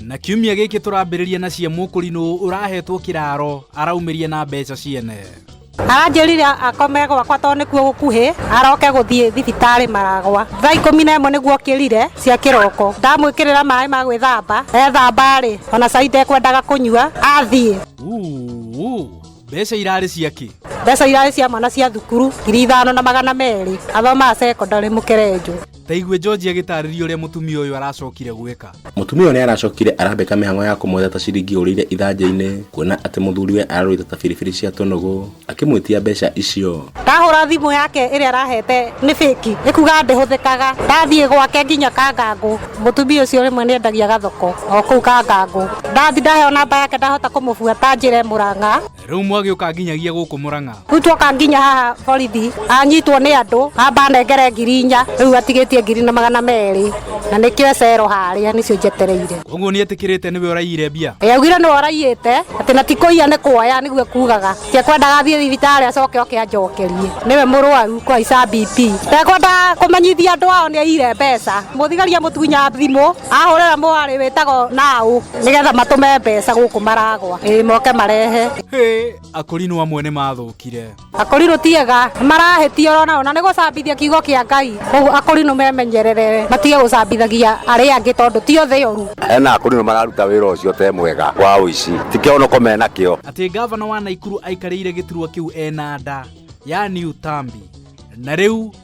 na kiumia gĩkĩ tũrambĩrĩria na cia mũkũrinũ ũrahetwo kĩraro araumĩria na mbeca ciene aranjĩrire akome gwakwa tondũ nĩkuo gũkuhĩ aroke gũthiĩ thibitarĩ maragwa thaa ikũmi na ĩmwe nĩguo kĩrire cia kĩroko ndamwĩkĩrĩra maĩ ma gwĩthamba ethamba-rĩ ona cai ndekwendaga kũnyua athiĩ Uu, mbeca irarĩ ciakĩ mbeca irarĩ cia mwana cia thukuru ngiri ithano na magana merĩ athomaga secondary mũkerenjũ Ta igue George agĩtaarĩria ũrĩa mũtumia ũyũ aracokire gwĩka. Mũtumia ũyũ nĩ aracokire arambĩka mĩhang'o ya kũmwetha ta ciringi ũrĩire ithanjĩ-inĩ kuona atĩ mũthuriwe ararũĩte ta biribiri cia tũnũgũ akĩmwĩtia mbeca icio. Ndahũra thimũ yake ĩrĩa arahete nĩ fake nĩ kuga ndĩhũthĩkaga. Ndathiĩ gwake nginya Kangangũ, mũtumia ũcio rĩmwe nĩ endagia gathoko o kũu Kangangũ. Ndathiĩ ndaheo namba yake ndahota kũmũbuata njĩre Mũrang'a. rĩu mwagĩũka nginyagia gũkũ mũrang'a rĩu twoka nginya haha borithi anyitwo nĩ andũ amba anengere ngiri inya rĩu atigĩtie ngiri na magana merĩ na nĩkĩo ecero harĩa nĩcio njetereire koguo nĩ etĩkĩrĩte nĩwe ũraiyire mbia Ĩ, augire nĩ oraiyĩte atĩ na tikũiya nĩ kuoya nĩguo kugaga tiekwendaga athiĩ thibitarĩ acoke oke anjokerie nĩwe mũrwaru kwa ica BP ndekwenda kũmenyithia andũ ao nĩ aiyire mbeca mũthigari amũtunya thimũ ahũrĩra mwarĩ wĩtagwo naũ nigetha matume mbeca guku maragwa ii moke marehe Hĩ, akũrinwo amwe nĩ mathũkire akũrinũ tiega marahetia orona ona nĩ gũcambithia kiugo kia ngai koguo akũrinũ memenyerere matige gũcambithagia arĩa angĩ tondũ ti othe oru hena akũrinũ mararuta wĩra ũcio te mwega wa ũici ti kĩonoko mena kĩo atĩ ngavana wa naikuru aikarĩire gĩturwa kĩu ena nda ya new tambi na rĩu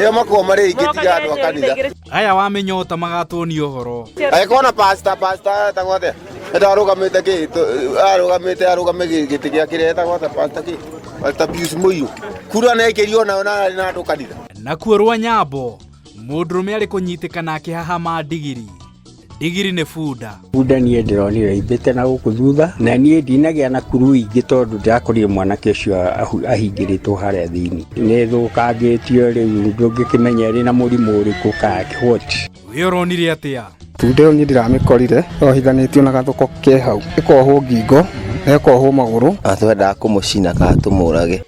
Ĩyo makuo marĩ ingĩ tiga andũ a kanitha. aya wa mĩnyota magatuonia ũhoro Agĩkorwo na pastor pastor etagwo atĩa? Enda arũgamĩte kĩ? tũ- Arũgamĩte arũgame gĩ- gĩtĩ gĩa kĩrĩa etagwo atĩa pastor kĩ? Pastor Pius Mũiru. Kura na ĩkĩrio nayo na arĩ na andũ kanitha. nakuo rwa nyambo mũndũrũme arĩ kũnyitĩkana akĩhahama ndigiri ndigiri nĩ bunda bunda niĩ ndĩronire imbĩte na gũkũ thutha na niĩ ndinagĩa na kuru ingĩ tondũ ndĩrakorire mwanake ũcio ahu- ahingĩrĩtwo harĩa thĩinĩ nĩ thũkangĩtio rĩu ndũngĩkĩmenya ĩrĩ na mũrimũ ũrĩkũ kakĩhoti wĩ ũronire atĩa bunda ĩyo niĩ ndĩramĩkorire yohithanĩtio na gathoko ke hau ĩkohwo ngingo na ĩkohwo magũrũ atwendaga kũmũcina kana tũmũrage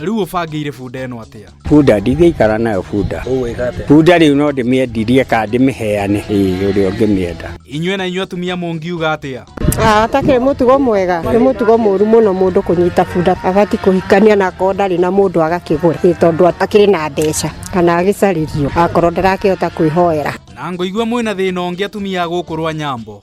rĩu ũbangĩire bunda ĩno atĩa bunda ndingĩikara nayo bunda ũgwĩka atĩa bunda rĩu no ndĩmĩendirie kana ndĩmĩheane ĩĩ ũrĩa ũngĩmĩenda inyuĩ na inyuĩ atumia mũngiuga atĩa atakĩrĩ mũtugo mwega nĩ mũtugo mũru mũno mũndũ kũnyita bunda agati kũhikania na akorwo ndarĩ na mũndũ agakĩgũra ĩ tondũ atakĩrĩ na mbeca kana agĩcarĩrio akorwo ndarakĩhota kwĩhoera na ngoigua mwĩna thĩna ũngĩ atumia a gũkũ rwa nyambo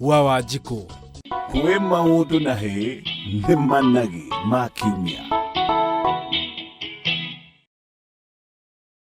wa wanjikũ kwĩ maũndũ na hĩ nĩ managi ma kiumia